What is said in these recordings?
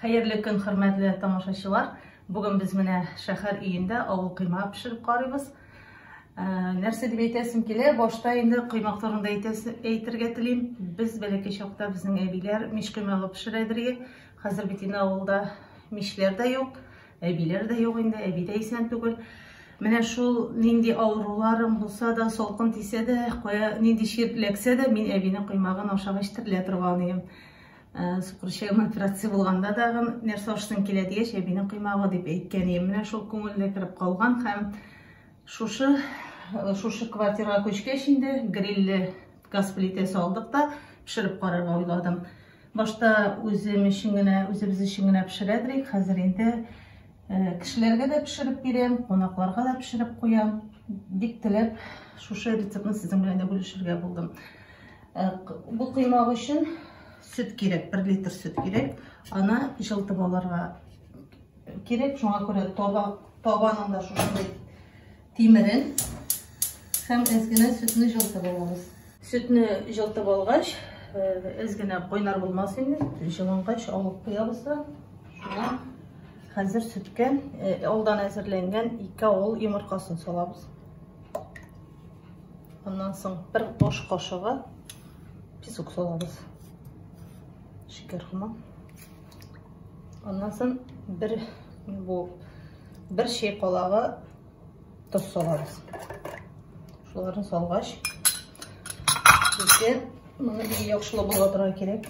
Хәерле көн хөрмәтле тамашачылар! Бүген без менә шәхәр өендә авыл кыйма пешереп карыйбыз. Ә, нәрсә дип әйтәсем килә, башта инде коймак турында әйтергә телим. Без бәләкәй чакта безнең әбиләр мич коймагы пешерәдерге. Хәзер бит инде авылда мишләр дә юк, әбиләр дә юк инде, әби дә исән түгел. Менә шул нинди авыруларым булса да, салкын тисә дә, кая нинди чир эләксә дә, мин әбинең коймагын ашагач терелә торган идем. Э, сукырчаем операция булганда дагы нәрсә ашсын килә дигәч әбинең коймагы дип әйткән ием менә шул күңелдә кереп калган һәм шушы э, шушы квартирага күчкәч инде грилле газ плитәсе алдык та пешереп карарга уйладым башта үзем өчен генә үзебез өчен генә пешерә идек хәзер инде э, кешеләргә дә пешереп бирәм кунакларга да пешереп куям бик теләп шушы рецептны сезнең белән дә бүлешергә булдым Э, бу кыймак өчен сөт кирәк, 1 литр сөт кирәк. Аны җылтып алырга кирәк. Шуңа күрә таба, табаның да шушындый тимерен һәм әзгенә сөтне җылтып алабыз. Сөтне җылтып алгач, әзгенә э, кайнар булмас инде, җылынгач алып куябыз да. Шуңа хәзер сөткә э, алдан әзерләнгән 2 авыл йомыркасын салабыз. Аннан соң бер аш кашыгы песок салабыз. Шикәр кына. Аннан соң бер бу бер чәй калагы тоз салабыз. Шуларны салгач, безгә моны яхшылап булатырга кирәк.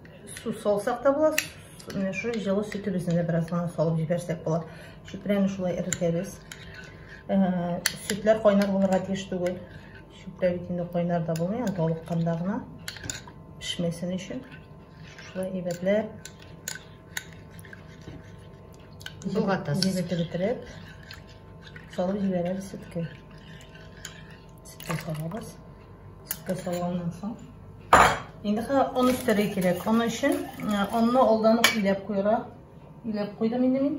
Су салсак та була, менә шу җылы сөтебезне дә бераз гына салып җибәрсәк була. Чүпрәне шулай эретәбез. Сөтләр кайнар булырга тиеш түгел. Чүпрә бит инде кайнар да булмый, аны талыкканда гына пешмәсен өчен. Шулай әйбәтләп Болгатасыз. Җибетеп бетереп, салып җибәрәбез сөткә. Сүткә салабыз. Сүткә салганнан соң. Инде хәзер он өстәргә кирәк. Аны өчен онны алдан ук иләп куйырга. Иләп куйдым инде мин.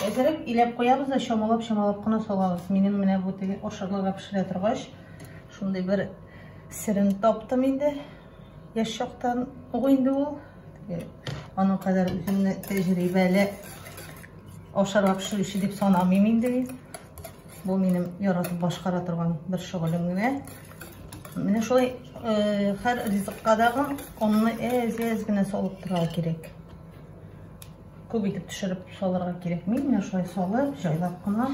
Әзерәк иләп куябыз да чамалап чамалап кына салабыз. Минем менә бу теге ашарларга пешерә торгач, шундый бер серен таптым инде. Яшь чактан ук инде ул. Аның кадәр үземне тәҗрибәле ашарга пешерүче дип санамыйм инде. Бу минем яратып башкара торган бер шөгылем генә. Менә шулай һәр ризыкка дагы онны әз-әз генә салып торырга кирәк. Күп итеп төшереп салырга кирәк. Мин менә шулай салып, җайлап кына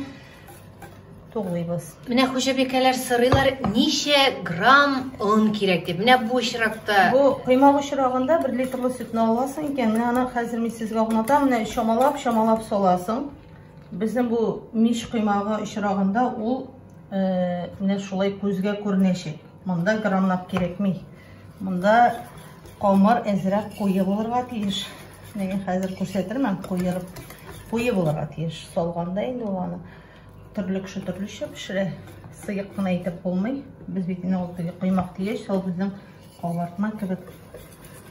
тугыйбыз. Менә хуҗабикәләр сырыйлар, ничә грамм он кирәк дип. Менә бу очракта. Бу коймак очрагында 1 литрлы сөтне аласың икән, менә аны хәзер мин сезгә аңлатам. Менә чамалап, чамалап саласың. Безнең бу мич коймагы очрагында ул менә шулай күзгә күренәчәк. Монда граммлап кирәкми. Монда камыр әзрәк куе булырга тиеш. Менә хәзер күрсәтермен куерып. Куе булырга тиеш. Салганда инде ул аны төрле кеше төрлечә пешерә. Сыек кына итеп булмый. Без бит инде ул теге коймак дигәч, ул безнең кабартма кебек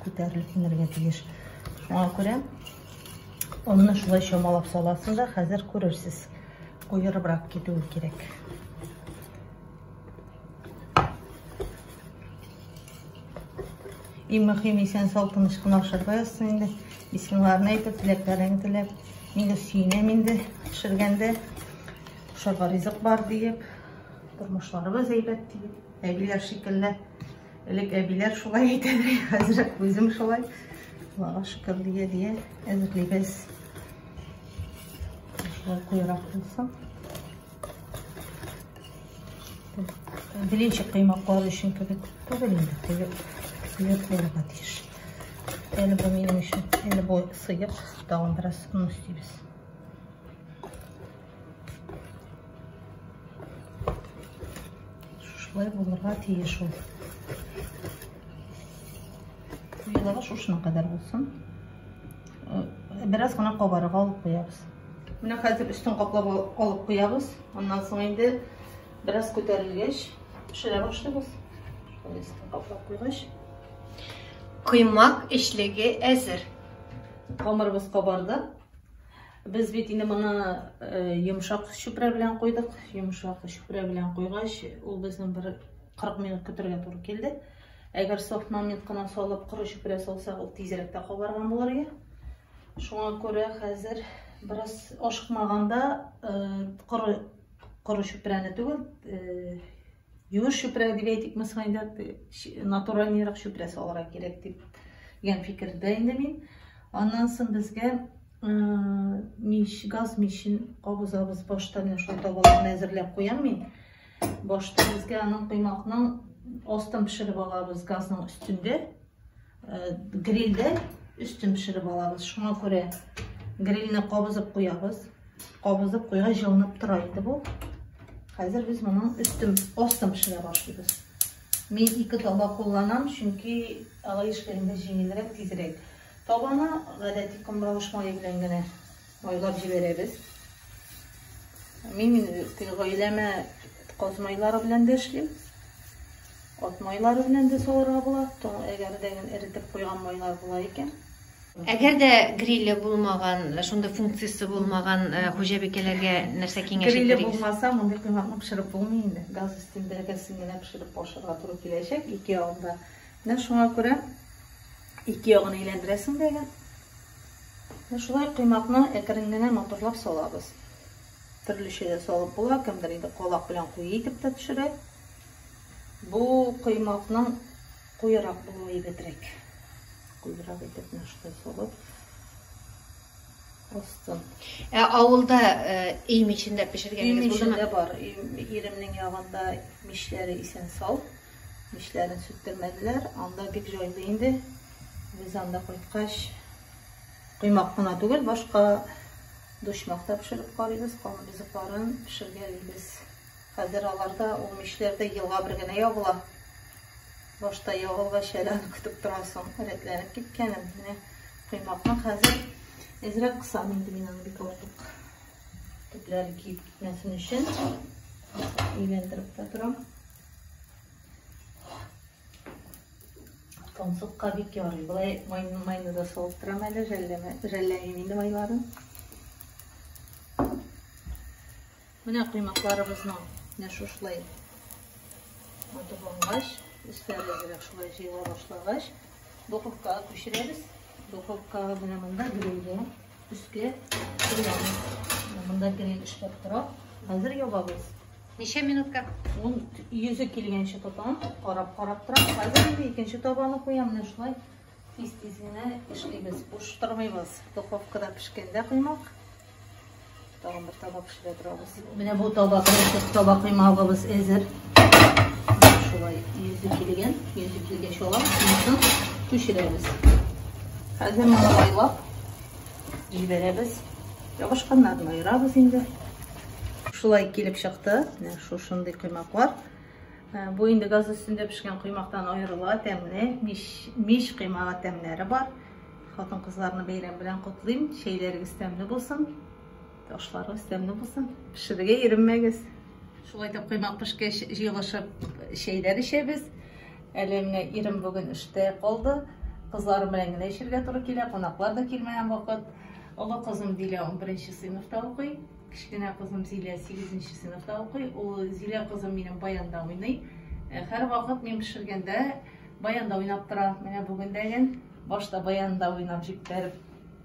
күтәрелеп инергә тиеш. Шуңа күрә Онны шулай чамалап саласың да, хәзер күрерсез. Куерыбрак китүе кирәк. Иң мөһим исән сау тыныч кына ашарга язсын инде. Исмиларны әйтеп, теләкләрен теләп. Мин дә сөенәм инде пешергәндә. Ашарга ризык бар диеп, тормышларыбыз әйбәт диеп. Әгиләр шикелле Элек әбиләр шулай әйтәдер, хәзер үзем шулай. Аллага шөкер дия дия әзерлибез. Шулай куйрак булсын. Белинчик кыймаклар өчен кебек түгел инде, кыйып, кыйып булырга тиеш. Әле бу минем өчен, әле бу сыйып, тагын бераз ун өстибез. Шулай булырга тиеш ул. Куелыгы шушына кадәр булсын. Э, бераз гына кабарырга алып куябыз. Менә хәзер өстен каплап алып куябыз. Аннан соң инде бераз күтәрелгәч пешерә башлыйбыз. Өстен каплап куйгач, коймак эчлеге әзер. Камырыбыз кабарды. Без бит инде моны йомшак чүпрә белән куйдык. Йомшак чүпрә белән куйгач, ул безнең бер 40 минут көтәргә туры килде. Әгәр софт момент кына салып, коры чүпрә салсак, ул тизрәк тә кабарган булыр иде. Шуңа күрә хәзер бераз ашыкмаганда коры коры чүпрәне түгел, Юеш чүпрәк дип әйтик, мисалга инде натуральнерак чүпрәк салырга кирәк дип дигән фикердә инде мин. Аннан соң безгә мич, газ мичен кабызабыз. Башта менә шул табаларны әзерләп куям мин. Башта безгә аның коймакның астын пешереп алабыз газның өстендә. грильдә өстен пешереп алабыз. Шуңа күрә грильне кабызып куябыз. Кабызып куйга җылынып тора инде бу. Хәзер без моның өстен, астын пешерә башлыйбыз. Мин ике таба кулланам, чөнки алай эшләгәндә җиңелрәк, тизрәк. Табаны гадәти комбалыш мае белән генә Майлап җибәрәбез. Мин гаиләмә каз майлары белән дә эшлим. Ат майлары белән дә салырга була. Әгәр дә эретеп куйган майлар була икән. Әгәр дә гриле булмаган, шундый функциясе булмаган э, хуҗабикәләргә нәрсә киңәш итәргә? Гриле булмаса, мондый кыйммәтне пешереп булмый инде. Газ өстендә гәсен генә пешереп ашарга туры киләчәк ике ягында. Менә шуңа күрә ике ягын әйләндерәсең дә Шулай коймакны әкрен генә матурлап салабыз. Төрлечә дә салып була, кемдер инде калак белән куе итеп тә төшерә. Бу коймакның куерак булуы әйбәтрәк. Куерак итеп менә шулай салып астын. Ә авылда өй мичендә пешергәнегез булдымы? Өй мичендә бар. Иремнең ягында мичләре исән сау. Мичләрен сүттермәделәр. Анда бик җайлы инде. Без анда кайткач, коймак кына түгел, башка дошмак та пешереп карыйбыз, каны бизыкларын пешергәлибез. Хәзер аларда ул мишләрдә елга бер генә ягыла. Башта ягылгач әле аны көтеп торасың, рәтләнеп киткәнен. Менә коймакны хәзер әзрәк кысам инде мин аны бик артык төпләре киеп китмәсен өчен. Илендереп тә торам. Тонсыкка бик ярый. Былай майны майны да салып торам әле, жәлләмә, жәлләмим инде майларын. Менә коймакларыбызның менә шушылай матурлангач, өсләре әзрәк шулай җыела башлагач, духовкага күчерәбез. Духовкага менә монда грилгә өскә куябыз. Монда гриль эшләп тора. Хәзер ябабыз. Ничә минутка? Ун йөзе килгәнче тотам, карап карап торам. Хәзер инде икенче табаны куям, менә шулай тиз-тиз генә эшлибез. Буш тормыйбыз. Духовкада пешкәндә коймак. Тагын бер таба пешерә торабыз. Менә бу таба, беренче таба коймагыбыз әзер. Шулай йөзе килгән, йөзе килгәч алам, шунысын пешерәбез. Хәзер моны айлап җибәрәбез. Ябышканнарны аерабыз инде. Шулай килеп чыкты. Менә шушындый коймаклар. Ә, бу инде газ өстендә пешкән коймактан аерыла, тәмле, мич, мич коймага тәмләре бар. Хатын-кызларны бәйрәм белән котлыйм. Чәйләрегез тәмле булсын. Ташларыгыз тәмле булсын. Пешерергә иренмәгез. Шулай итеп коймак пешкәч җыелышып чәйләр эчәбез. Әле менә ирем бүген эштә калды. Кызларым белән генә эчәргә туры килә. Кунаклар да килмәгән вакыт. Олы кызым Дилә 11 сыйныфта укый. Кечкенә кызым Зилә 8 сыйныфта укый. Ул Зилә кызым минем баянда уйный. Э, һәр вакыт мин пешергәндә баянда уйнап тора. Менә бүген дә башта баянда уйнап җиптәреп